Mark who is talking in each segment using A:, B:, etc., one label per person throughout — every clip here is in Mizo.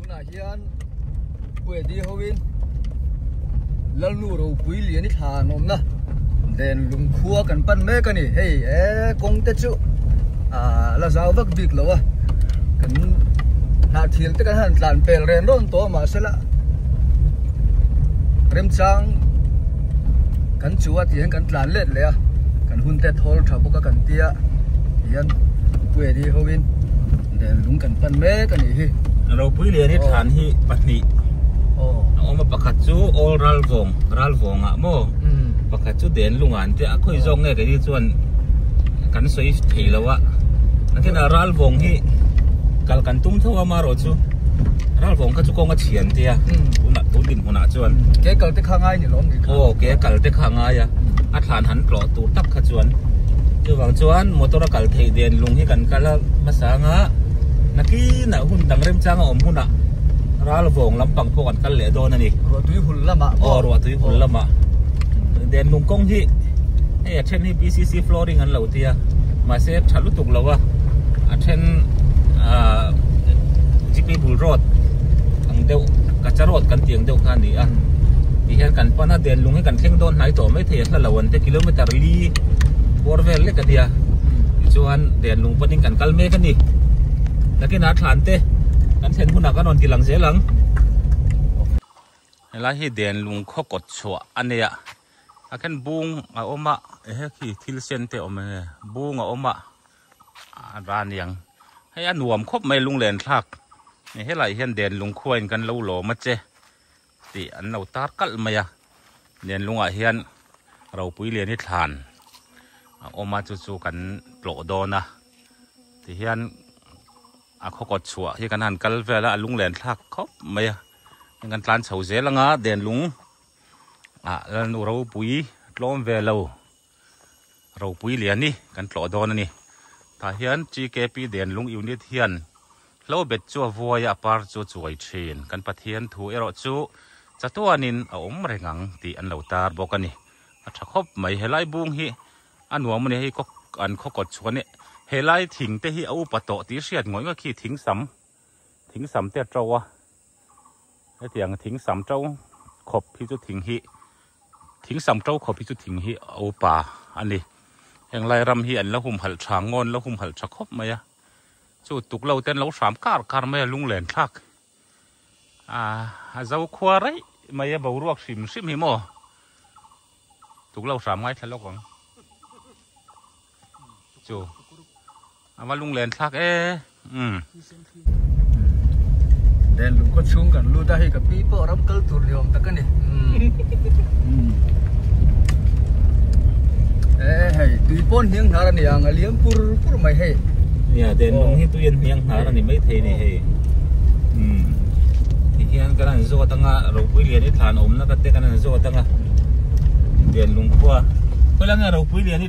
A: tunah hian Puedi ho in Lalnu ropui lian i thla an awm na den lungkhua kan pan mek a ni hei e kawng te chu ah la zau vak bik lo a kan hnah thil te kan han tlan pel ren rawn tawh a mahse lah remchang kan chu a tiang kan tlan let leh a kan hun te thawl tha bawk a kan tia tihian Puedi ho in Del lung kan pan mek a nih hi. Ropui lian hi thlan hi pahnih a awm a pakhat chu Awl Ralvawng, Ralvawngah maw, pakhat chu Den lungah an tia a, khawi zawk nge keini chuan kan sawi thei lo a. Nangkhinah Ralvawng hi kal kan tum tho a amarawh chu Ralvawng kha chu kawng a chhian tia tunah tun dinhmunah chuan. Ke kalte kha a ngai ni lawm ni kha. Aw, ke kalte kha a ngai a, a thlan han tlawh tawh. tur tak kha chuan chuvang chuan motor a kal thei den lung hi kan kal a hmasa anga nakinah hun dang remchanga awm hunah ral vawng lampang pawh kan kal leh dawn a ni ruah tui hul lamah aw ruah tui hul lamah den lung kawng hi hei a then hi PCC flooring an lo ti a mahse tha lutuk lo a a then GP bul road ang deuh kacha road kan tih ang deuh kha a ni a tih hian kan pan a den lung hi kan thleng dawn hnai tawh mai thei a. hla lo an te kilometer li bawr vel lek a nia chuan den lung panin kan kal mek a ni takin a thlan te kan thlen huna kan rawn ti lang zel ang helai hi den lung khaw kawt chhuah a nia a khen bung a awm a he khi thil sen te awm e bung a awm a a ra niang hei a nuam khawp mai lunglen thlak helai hian den lung khuain kan lo lawm a che Tih an lo tar kalh mai a, lian lungah hian ropui lian hi thlan a awm a chu chu kan tlawh dawn a tihian a khaw kawt chhuah hi kan han kal vel a a lunglen thlak khawp mai a heng kan tlan chho zel anga den lung ah lalnu ropui tlawm ve lo Ropui Liani kan tlawh dawn a ni. Tah hian GKP Denlung Unit hian hlo bet chu a vuai a, a par chu a chuai thin. Kan Pathian thu erawh chu chatuanin a awm reng ang tih an lo tar bawk a ni. A tha khawp mai. He lai bung hi a nuam a ni. Hei khaw an khaw kawt chhuah a nih. He lai thing te hi a upa tawh tih a hriat ngawih ngawih khi thing sam. Thing sam te a ṭo a, hetiang thing sam ṭo khawp hi chu thing hi, thing sam ṭo khawp hi chu thing hi a upa a ni. Heng lai ram hi an la humhalh ṭha ngawt, an la humhalh ṭha khawp mai a. Chu tuklo te an lo hram kar kar mai a, lunglentlak a zokhua raih mai a, boruak hrim hrim hi maw, tuklo hram ngai thla lawk ang. chu ava lung len thlak e um den lung khaw chhung kan lut a hei ka pi pawh ram kal tur ni awm tak a ni e hei tui pawn hniang hnar a ni ang a liam pur pur mai hei ya den lung hi tuian hniang hnar a ni mai thei ni hei um ti hian kan an zawt anga ropui lian i thlan awmna ka te kan an zawt anga den lung khua khawlangin ropui lian i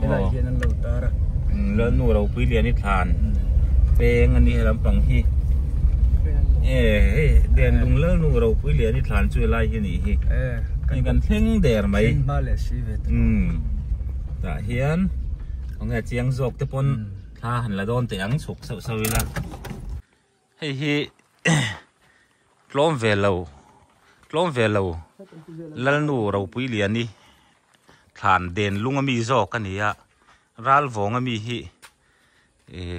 A: helai hian an lo tar a lalnu ropui lian i thlan peng a nih lam pang hi e hei den lung lalnu ropui lian i thlan chu helai hi nih hi e kan kan thleng der mai thleng ba le si ve um ta hian ong e chiang zawk te pon tha han la dawn teh ang chhuk sau sau ila Hei hi tlawm ve lo tlawm ve lo Lalnu Ropuili a ni. Thlan den lung a mi zawk a ni a, ral vawng a mi hi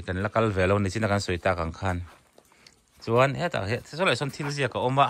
A: kan la kal ve lo nihchin a kan sawi tak ang khan. Chuan hetah hian saw lai sawn thil ziak a awm a.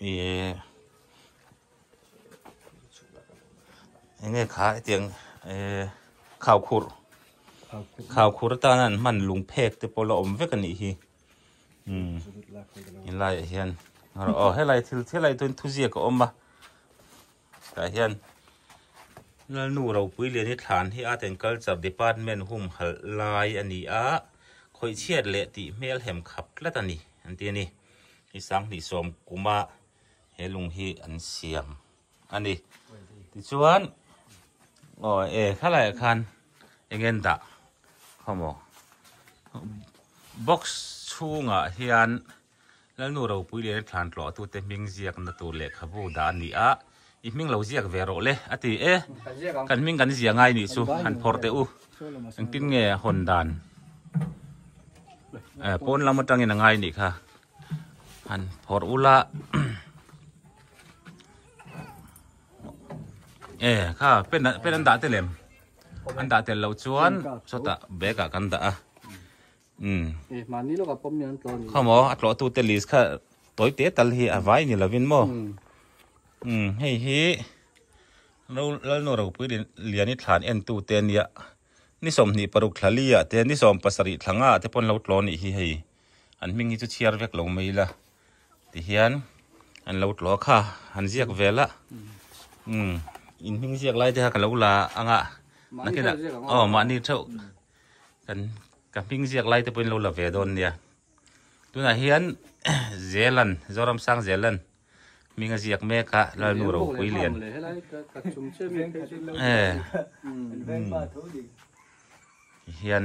A: Eee enge kha etiang ee khaukhur khaukhur atana an hman lung phek te pawh la awm vek anih hi um helaiah hian aw helai thil helai thuziak a awm a. Tah hian Lalnu Ropuilian hi thlan hi Art and Culture Department humhalh lai a ni a, khawih chhiat leh tih hmelhem khap tlat a ni an ti a ni. Hi Sanghnih sawm kuma he lung hi an siam a ni. Tichuan aw e thalaiah khan engen dah khawmaw? Box chhungah hian Lalnu ropui leh rirthlan tlawh atute hming ziakna tur lehkhabu dah a ni a, i hming lo ziak ve rawh le, a ti. E, kan hming kan zia ngai nih chu han phawrh teh u, engtin nge hawn dan e, pawn lam atangin a ngai nih kha han phawrh u la. E, kha pen pen an dah telem, an dah tel loh chuan sawtah bag ah kan dah a. Umm. Eh mahni lawk a pawm hian tlawh ni. Khaw maw a tlawh tu te list kha tawi te tal hi a vai ni lovin maw. Umm hei hi no Lalnu Ropui lin Liani thlan en tu te nia ni sawmhnih paruk thla lia te ni sawm pasarih thla nga te pawn lo tlawh nih hi hei an hming hi chu chhiar vek lo mai la ti hian an lo tlawh kha han ziak vel a umm in hming ziak lai te kha ka lo la anga na khenah aw mahni theuh kan ka hming ziak lai te pawh in lo la ve dawn nia tunah hian zelan zoram sang zelan minga ziak mek a lalnu ro pui lian e hian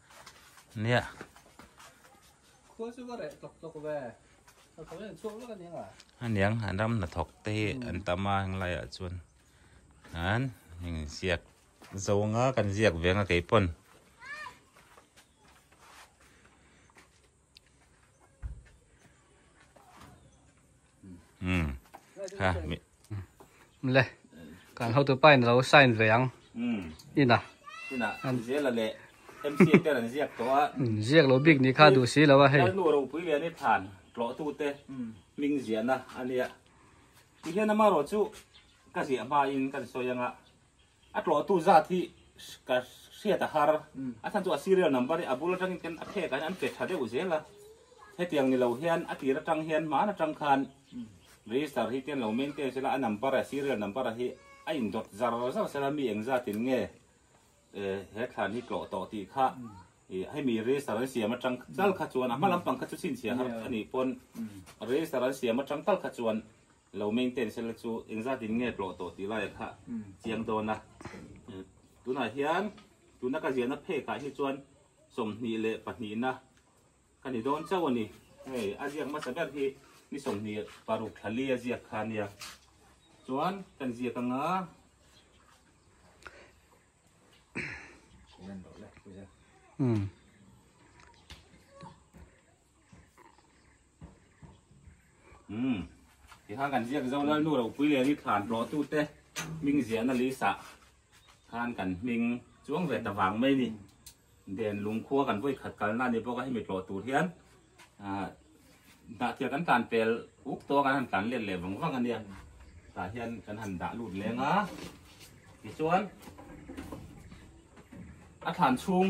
A: Nia. Khua chu ka reh tlawk tlawk ve. Ka khawih an chhuak vek a nia. Aniang han ram hna thawk te hi an tam a heng laiah chuan an heng ziak zawnga kan ziak veng a keipawn. Hmm. Ha. Le. Kan ho tu pai lo sign ve ang. Hmm. Ina. Ina. An zela le. MC te an ziak to a. Hmm. Ziak lo big ni kha du si lo a hei. Kan nu ro pui le ni than. Tlo tu te. Hmm. Ming zia na ania. Ti hian ama ro chu ka zia ba in kan soi anga. A tlawhtu zat hi ka hriat a har. A thlan chu a serial number hi a bul atangin kan a phek ah hian an pe tha deuh zel a. Hetiang ni lo hian a tir atang hian hman atang khan register hi ken lo meng teng sela a number a serial number a hi a in dawt zar zar sela mi eng zat in nge he thlan hi tlawh tawh tih kha i hemi register an siam atang tal kha chuan a hma lampang kha chu chhinchhiah har a nih pawn register an siam atang tal kha chuan Lo maintence la chu engzat in nge tlawh tawh tih lai ah kha chiang dawn a. Tunah hian tuna ka ziahna phek ah hi chuan sawmhnih leh pahnih na ka ni dawn chauh a ni. Hei a ziak hmasa ber hi ni sawmhnih paruk thla li a ziak kha nia. Chuan kan ziak ang a. Umm. Umm, tikhang kan ziak zo lal nu ropui le ni thlan rawh tu te ming ziahna lisa khan kan hming chuang ve ta vang mai ni den lung khua kan voi khat kalna ni bawk a hemi tlawh tur hian ah dah thian kan tlan pel uk tawh kan han tlan let leh vang vang ania tah hian kan han dah lut leng a tichuan a thlan chhung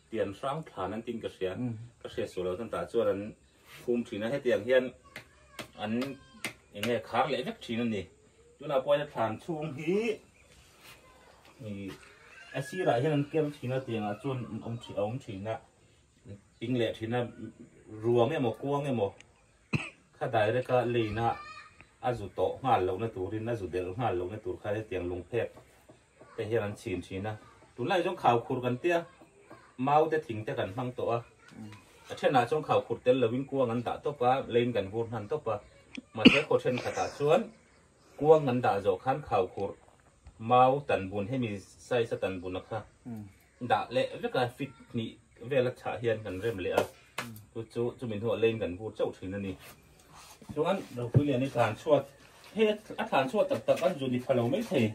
A: Tih an hrang thlan an tin ka hria, ka hriat suh lo tan tah chuan an khum thin a, hetiang hian an eng nge khar leh vek thin a ni. Tunah pawh hian thlan chhung hi a sirah hian an ker thin a tiangah chuan a awm thin a awm thin a, ping leh thin a, ruang emaw kuang emaw kha direct a line a a zu tawh nghal lohna turin a zu delh nghal lohna tur kha hetiang lung phek. Te hian an chhin thin a. Tunlai chuan khau khur kan tia, mau te thing te kan hmang tawh a. A thenah chuan khau khur tel lovin kuang an dah tawp a, leiin kan vur hman tawp a. Mahse khaw thenkhatah chuan kuang an dah zawh khan khau khur mau tan bun hemi size a tan bun a kha. Dah leh veka fit hnih vel a chhah hian kan rem leh a, chu chu chumi hnu ah leiin kan bur chauh thin a ni. Chuan Ropui Lian hi thlan chhuat, hei a thlan chhuat tak tak an zu ni pha lo mai thei.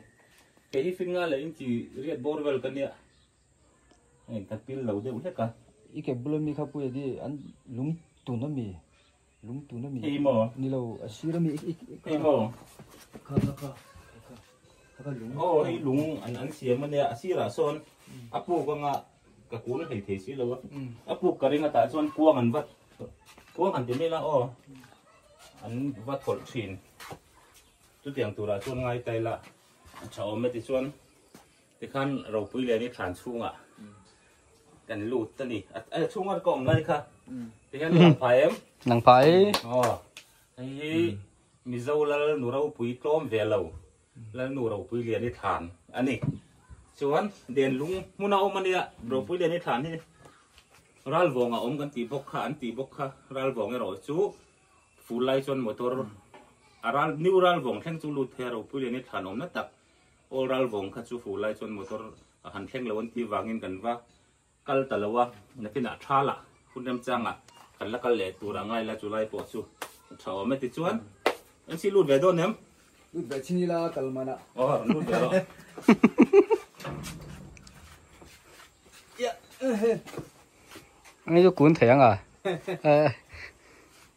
A: Kei hi fit ngai leh in chi riat bawr vel ka nia, hei ka pil lo deuh hlek a. I kekbul ami kha Puia di an lungtun ami. Lungtun a ni maw? Ni lo, a sir a ni. Hei maw? Kha kha kha. Kha kha lung. Aw, hei lung an an siam a nia. A sirah sawn a puk anga ka kuh la hlei thei si lo a. A puk ka ring atah chuan kuang an vat, kuang han ti mai la aw, an vat hawlh thin. Chutiang turah chuan ngai tai la. A tha awm e tichuan Tikhan ropui lian hi thlan chhunga kan lut a ni. A chhunga ka awm lai kha. Tikhan nang phai em? Nang phai. Aw. Hei hi Mizo lal nu ropui tlawm ve lo. Lal nu ropui lian hi thlan a ni. Chuan Denlung hmuna awm a nia ropui lian hi thlan hi Ralvawng a awm kan tih bawk kha an tih bawk kha. Ralvawng erawh chu ful lai chuan motor a ral new Ralvawng thleng chu lut theih a ropui lian hi thlan awmna tak. Aw ral vawng kha chu fuh lai chuan motor a han thleng lo an tih vangin kan va kal ta lo a, nakinah tha lah hun rem changa kan la kal leh tur a ngai la chulai pawh chu tha awm e tichuan MC lut ve dawn em? Lut ve chhin ila kal man a. Aw rawn lut ve lo. Eng chu kun thei ang a.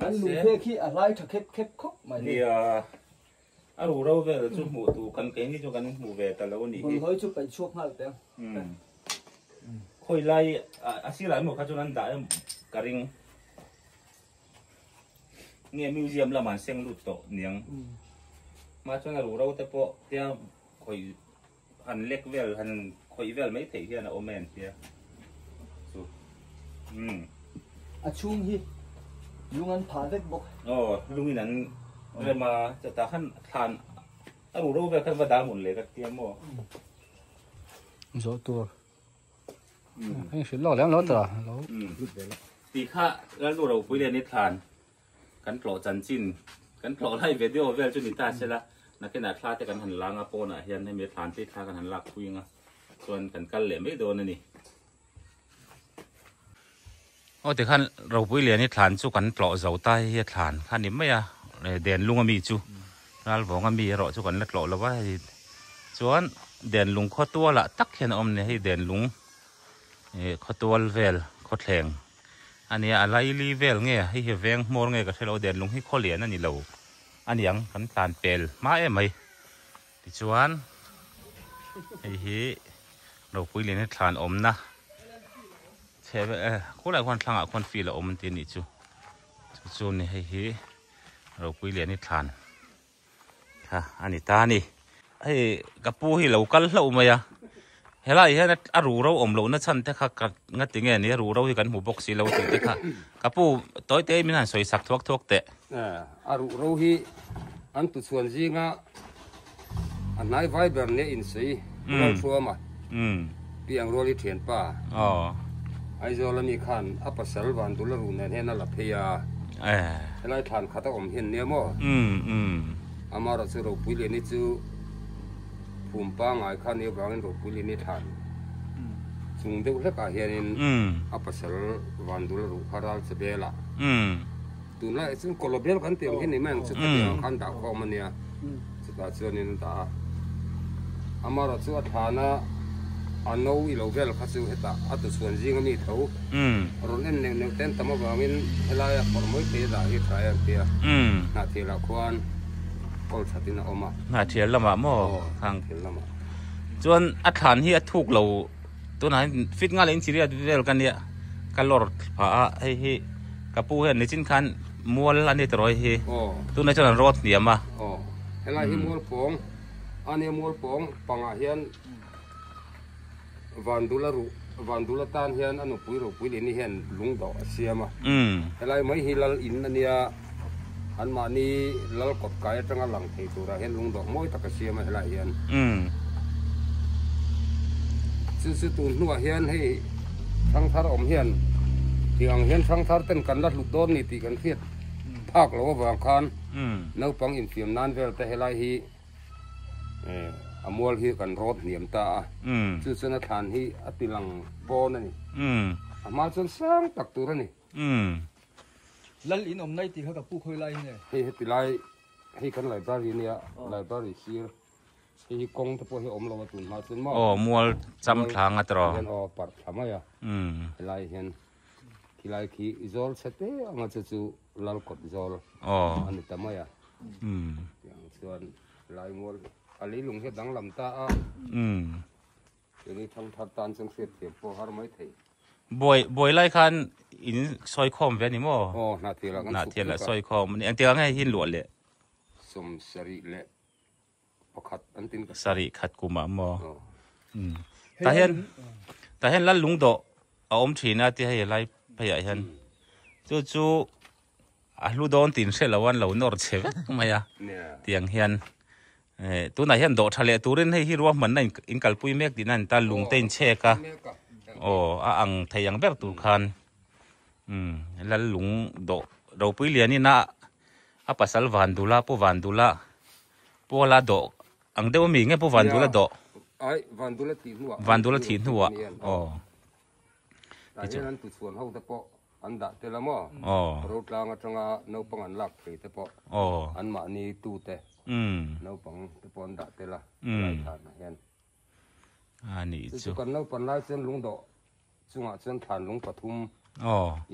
A: Kan lungphek hi a hlai tha khep khep khawp mai. Nia, a ru ro vel chu hmuh tur kan keini chu kan hmu ve ta lo ni hi. Bawlhhawi chu peih chhuak nghal pe ang. Khawi lai a sirah emaw kha chuan an dah em? Ka ring. Nge museum lamah an seng lut tawh niang? Mah chuan a ru ro te pawh tia khawih. Han lek vel, han khawih vel mai theih hian a awm e an tia. Chu. Um. A chhung hi lung an phah vek bawk. Aw, lungin an rem a, chutah khan thlan a ru ro vel khan va dal ngun leh ka tia maw. Zawh tur. Hei hrilh lawk lem lo tawh a, lo lut ve lo. Ti kha Lalnu Ropui nen hi thlan Kan tlawh chanchin kan tlawh lai video vel chu ni ta sela nakena thla te kan han langa pawnah hian hemi thlan te thla kan han lak pui anga chuan kan kal leh mai dawn ani aw tikhan ropui lian hi thlan chu kan tlawh zo ta hi thlan kha ni mai a den lunga mi chu ral vonga mi ro chu kan la tlawh lova hi chuan den lung khaw tuala tak hian awm ni hei den lung e khaw tual vel khaw thleng A nia, a laili vel nge a, heihi veng hmawr nge ka hre lo, denlung hi khaw lian a ni lo a niang, kan tlan pel hma em mai. Tichuan, heihi ropui lin hi thlan awmna chhe ber e, khur lai khuan thlangah khuan feel a awm an ti a nih chu, chu chu ni heihi ropui lian hi thlan. a ni ta ni. Hei ka pu hi lo kal hlauh mai a, helai hian a ruh ro awm lohna chhan te kha ka nga ti nge ni a, ruh ro hi kan hmu bawk si lo tih te kha ka pu tawi te min han sawi sak thuak thuak teh. A ruh ro hi an tu chhuan zinga a hnai vai ber leh in sawi rual hruam a. Umm. Pi ang rual i thian pa. Aww. Aizawl ami khan a pasal van dul a ruh nen hian a la phei a. Eh. Helai thlan khat a awm hian nia maw? Umm umm. Amarawh chu Ropuilian i chu phum pangai khan i avangin Ropuilian i thlan chung deuh hlekah hianin a pasal van dul a ruh kha ral che bela. Umm. Tun lai chuan kolobel kan tih ang hi ni mai ang chuta ni ang khan dah khawm a nia chutah chuan in dah a amarawh chu a thlana a no i lo vel kha chu heta a tu chhuan zing a mi tho rawn en neuh neuh ten tam avangin helai a phawrh mawi thei dah hi a thlai ang tia hnahthial ah khuan kawl that in a awm a hnahthial lamah maw thil lamah chuan a thlan hi a thuk lo tunah hian fit nga leh inchiriat vel ka nia ka lawr phah a hei hi ka pu hian nichin khan mual a ni ta rawi hi tunah chuan an rawt hniam a helai hi mual pawng a nia mual pawng pangah hian vandula ruh vandula tan hian a nupui ropui leh ni hian lungdaw a siam a helai mai hi lal in a nia Anmahni lal kawt kai atanga lang thei turah hian lungdawh mawi tak a siam a helai hian. Chu chu tun hnuah hian hei Thangthar awm hian tiang hian Thangthar ten kan la hlut dawn ni tih kan hriat phak lo avang khan naupang infiam nan velte helai hi a mual hi kan rawt hniam ta a. Chu chuan a thlan hi a tilang pawn a ni. A hma chuan sang tak tur a ni. Umm. Lal in awm nai tih kha ka pu khawi lai nge. Hei heti lai hei kan library nia library sir hei hi kawng te pawh hi a awm lo a tun hma chuan maw. Aw mual cham thlang a tiraw. Hian aw parh thla mai a. Umm. Helai hian khi lai khi zawl chhe te anga chu chu lal kawt zawl a ni ta mai a. Umm. Tiang chuan lai mual a leilung hi a danglam ta a. Umm. Keri thang thar tan chung hriat thiam pawh har mai thei. Buai, buai lai khan in soi khawm ve ni mo? Oh, hna thial ah kan Hna thial ah soi khawm. Ni ang tia ngai hin luah le. Som sarih le pakhat an tin ka. Sarih khat kum ah mo? Oh. Um. Ta hian, ta hian lal lung dawh a awm thin a tia hei a lai phei ah hian. Chu chu. A hlu dawn tih in hre lo a, an lo nawr che vek mai a tiang hian tunah hian dawh tha leh turin hei hi ruahmanna in kalpui mek tihna a ni ta, lung te in chek a, aw a ang thei ang ber tur khan Lalung dawh ropui lianina a pasal Vandula, Pu Vandula, Puala dawh ang deuh a mi nge Pu Vandula dawh? Ai Vandula thih hnuah, Vandula thih hnuah aw Tah hian an ti chhuan ho te pawh an dah tel a maw? Rotlang atanga naupang an lak thei te pawh anmahni tute naupang te pawh an dah tel a, Laithlana hian. Chu chu kan naupan lai chuan Lungdawh chungah chuan thlan lung pathum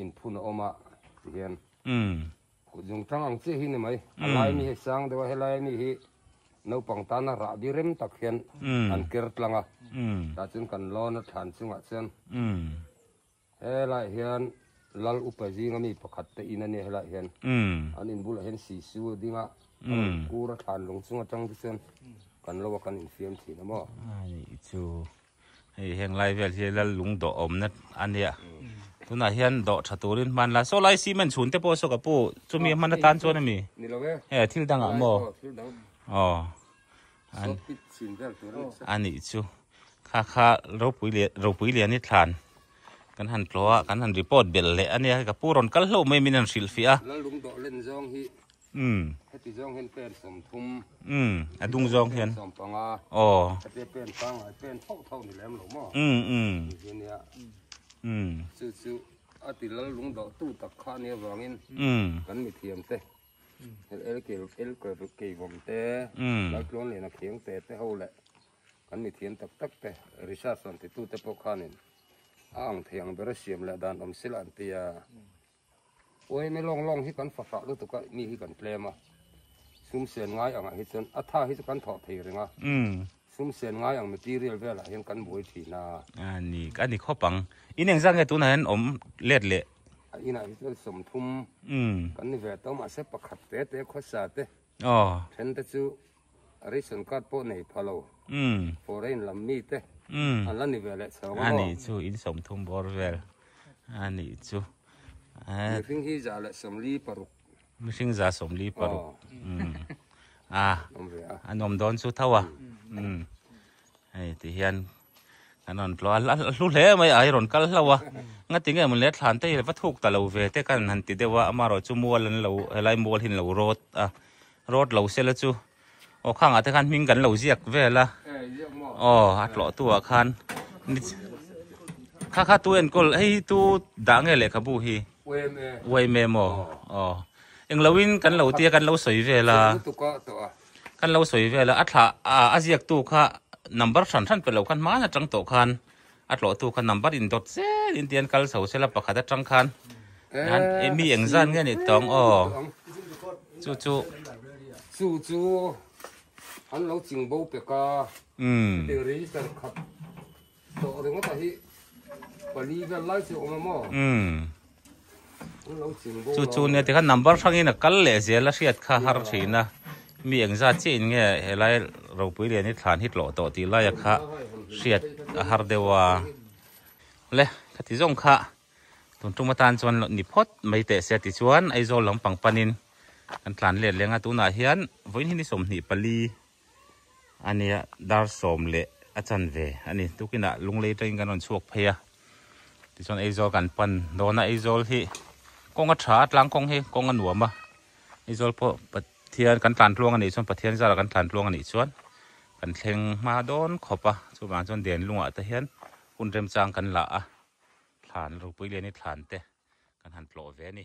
A: in phun a awm a, ti hian. Kut lung tang ang chiah hi ni mai. A lai ami hi sang deuh a, he lai ami hi naupang tana rahbi rem tak hian an ker tlang a. Tah chuan kan lawn aṭhan chungah chuan he lai hian Lal upa zing ami pakhat te in a nia he lai hian. An in bulah hian Sisu a ding a, a rawn kûr aṭhan lung chung aṭang te chuan kan lo a kan infiam thin a maw? Anih chu. Hei heng lai vel hi lal lung dawh awmna a nia. Tunah hian dawh tha turin hman la. Saw lai cement chhun te pawh saw ka pu chumi a hman atan chuan a mi? Ni lo e. He thil dang ah maw? Aw thil dang. Aw. Saw pit chhin vel tur a ni sa. A ni chu. Kha kha ropui leh ropui leh ni thlan kan han tlaw a kan han report bel leh a nia. Ka pu rawn kal hlauh mai min han hrilh fiah a. Lal lung dawh len zawng hi. Umm. Heti zawng hian pen sawmthum. Umm. A dung zawng hian. Pen sawmpanga. Aw. Heti pen pangngai pen tho tho ni lem lo maw. Umm umm. Nihhi nia. Umm. Chu chu a ti lal lung doh tu tak kha nia vangin. Umm. Kan mithiam te. Hel el kil el kil ru kei vawm te. Umm. Lal tluan leh na kheng te te ho leh. Kan mithiam tak tak te. Research an ti tu te pawh khanin. A ang thei ang bera siam leh dan awm sila an tia. Uaime lawng lawng hi kan fahfah lutuk a mi hi kan tlem a, sumsen ngai angah hi chuan a tha hi chu kan thawh thei reng a, sumsen ngai ang material velah hian kan buai thin a. A ni, a ni khawp ang. Ineng zak nge tunah hian awm let leh? A inah hi chuan sawmthum kan ni ve tawh mahse pakhat te te khawsa te. Aw. Then te chu ration card pawh nei pha lo. Umm. Foreign lam mi te. Umm. An la ni ve leh chho maw? A ni chu in sawmthum bawr vel a ni chu. Mihring hi za leh sawmli paruk. Mihring za sawmli paruk. Umm. A. Awm ve a. An awm dawn chu tho a. Umm. hei ti hian kan rawn tluah a a hlu hle mai ai rawn kal hlauh a nga ti nge maw le thlan te hi va thuk ta lo ve te kan han ti deuh a amarawh chu mual an lo helai mual hi an lo rawt a rawt lo se la chu aw khangah te khan hming kan lo ziak vel a aw a tlawh tu ah khan ni kha kha tu enkawl hei hi tu dah nge lehkhabu hi uaim em aw aw engloin kan lo tia kan lo sawi vel a Kan lo sawi vel a, a thla a ziaktu kha number hran hran pelo khan hman atang tawh khan a tlawhtu kha number in dawt zet in tian kal chho sela pakhat atang khan nan e mi eng zan nge ni tawng aw chu chu chu chu an lo ching bo pek a register khat Tawh ringawtah hi pali vel lai chu a awm a maw? Umm. An lo chin bawk lo. Chu chu nia tikhan number hrangin a kal leh zel a hriat kha har thin a. Mi engzat chiahin nge helai ropui lian hi thlan hi tlawh tawh tih laia kha hriat a har deuh a. Le khati zawng kha tun tum atan chuan ni phawt mai teh sia tichuan Aizawl lampang panin kan tlan let leng a. Tunah hian vawiin hi ni sawmhnih pali. Ania dar sawm leh a chan ve a ni. Tukinah lunglei tangin kan rawn chhuak phei a, tichuan Aizawl kan pan dawn a. Aizawl hi kawng a tha a, tlang kawng hi kawng a nuam a. Aizawl pawh Pathian kan tlantluang a nih chuan, Pathian zara kan tlantluang a nih chuan kan thleng hma dawn khawp a. Chuvang chuan den lungah te hian hun remchang kan la a, thlan Rupuilian-i thlan te kan han tlawh ve a ni.